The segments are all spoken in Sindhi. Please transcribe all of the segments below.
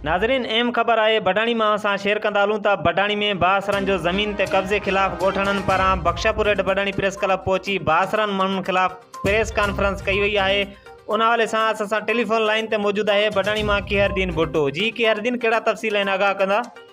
ناظرين ايم خبر آء بڊاڻي مان اوهان سان شيئر ڪندا هلون ته بڊاڻي ۾ بااثرن جو زمين تي قبضي خلاف ڳوٺاڻن پاران بخشاپورهيٺ بڊاڻي پريس ڪلب پهچي بااثرن ماڻهن خلاف پريس ڪانفرنس ڪئي وئي آهي ان حوالي سان اسان سان ٽيليفون لائين تي موجود آهي بڊاڻي مان ڪيهر دين ڀٽو جي ڪيهر دين ڪهڙا تفصيل آهن آگاهه ڪندا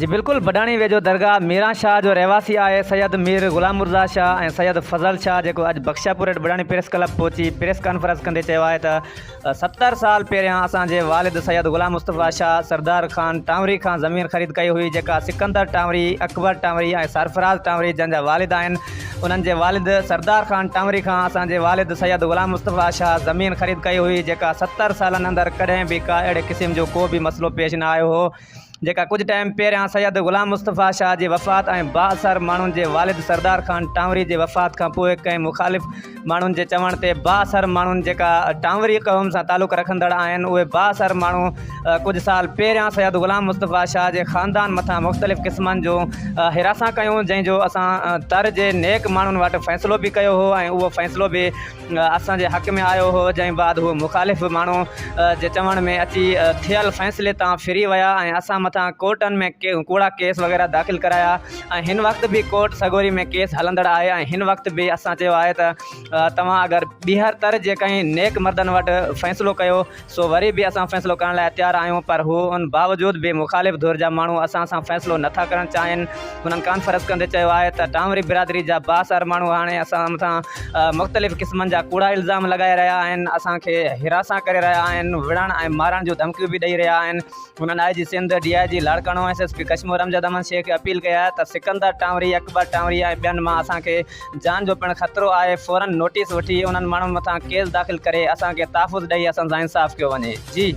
جي بلڪل بڊاڻي ويجهو درگاهه ميران شاهه جو رهواسي آهي سيد مير غلام مرزا شاهه ۽ سيد فضل شاهه جيڪو اڄ بخشاپور هيٺ بڊاڻي پريس ڪلب پهچي پريس ڪانفرنس ڪندي چيو آهي ته ستر سال پهريان اسان جي والد سيد غلام مصطفيٰ شاهه سردار خان ٽانوري کان زمين خريد ڪئي هئي جيڪا سڪندر ٽانوري اڪبر ٽانوري ۽ سرفراز ٽانوري جن جا والد آهن انهن جي والد سردار خان ٽانوري کان اسان جي والد سيد غلام مصطفيٰ شاهه زمين خريد ڪئي هئي جيڪا ستر سالن اندر ڪڏهن به ڪا اهڙي قسم جو ڪو به مسئلو پيش نه آيو هو جيڪا ڪجهه ٽائيم پهريان سيد غلام مصطفيٰ شاهه جي وفات ۽ بااثر ماڻهن جي والد سردار خان ٽانوري جي وفات کانپوء ڪنهن مخالف ماڻهن جي چوڻ تي بااثر ماڻهن جيڪا ٽانوري قوم سان تعلق رکندڙ آهن اهي بااثر ماڻهو ڪجهه سال پهريان سيد غلام مصطفيٰ شاهه جي خاندان مٿان مختلف قسمن جون حراسان ڪيون جنهن جو اسان تر جي نيڪ ماڻهن وٽ فيصلو به ڪيو هو ۽ اهو فيصلو به اسان جي حق ۾ آيو هو جنهن بعد هو مخالف ماڻهو جي چوڻ ۾ اچي ٿيل فيصلي تان ڦري ويا ۽ اسان مٿان ڪورٽن ۾ ڪوڙا ڪيس وغيره داخل ڪرايا ۽ هن وقت به ڪورٽ سڳوري ۾ ڪيس هلندڙ آهي ۽ هن وقت به اسان چيو آهي ته توهان اگر ٻيهر تر جيڪڏهن نيڪ مردن وٽ فيصلو ڪيو سو وري به اسان فيصلو ڪرڻ لاء تيار آهيون پر هو ان باوجود به مخالف ڌر جا ماڻهو اسان سان فيصلو نٿا ڪرڻ چاهين هنن ڪانفرنس ڪندي چيو آهي ته ٽانوري برادري جا بااثر ماڻهو هاڻي اسان مٿان مختلف قسمن جا ڪوڙا الزام لڳائي رهيا آهن اسان کي حراسان ڪري رهيا آهن وڙهڻ ۽ مارڻ جون ڌمڪيون به ڏئي رهيا آهن هنن I G Sindh, D I G Larkana ۽ S S P Kashmore Amjad Ahmed Shaikh کي اپيل ڪئي آهي ته سڪندر ٽانوري، اڪبر ٽانوري ۽ ٻين مان اسان کي جان جو پڻ خطرو آهي، فورن نوٽيس وٺي انهن ماڻهن مٿان ڪيس داخل ڪري اسان کي تحفظ ڏئي اسان سان انصاف ڪيو وڃي. جي.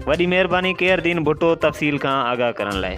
وڏي مهرباني قير دين ڀٽو تفصيل کان آگاهه ڪرڻ لاء.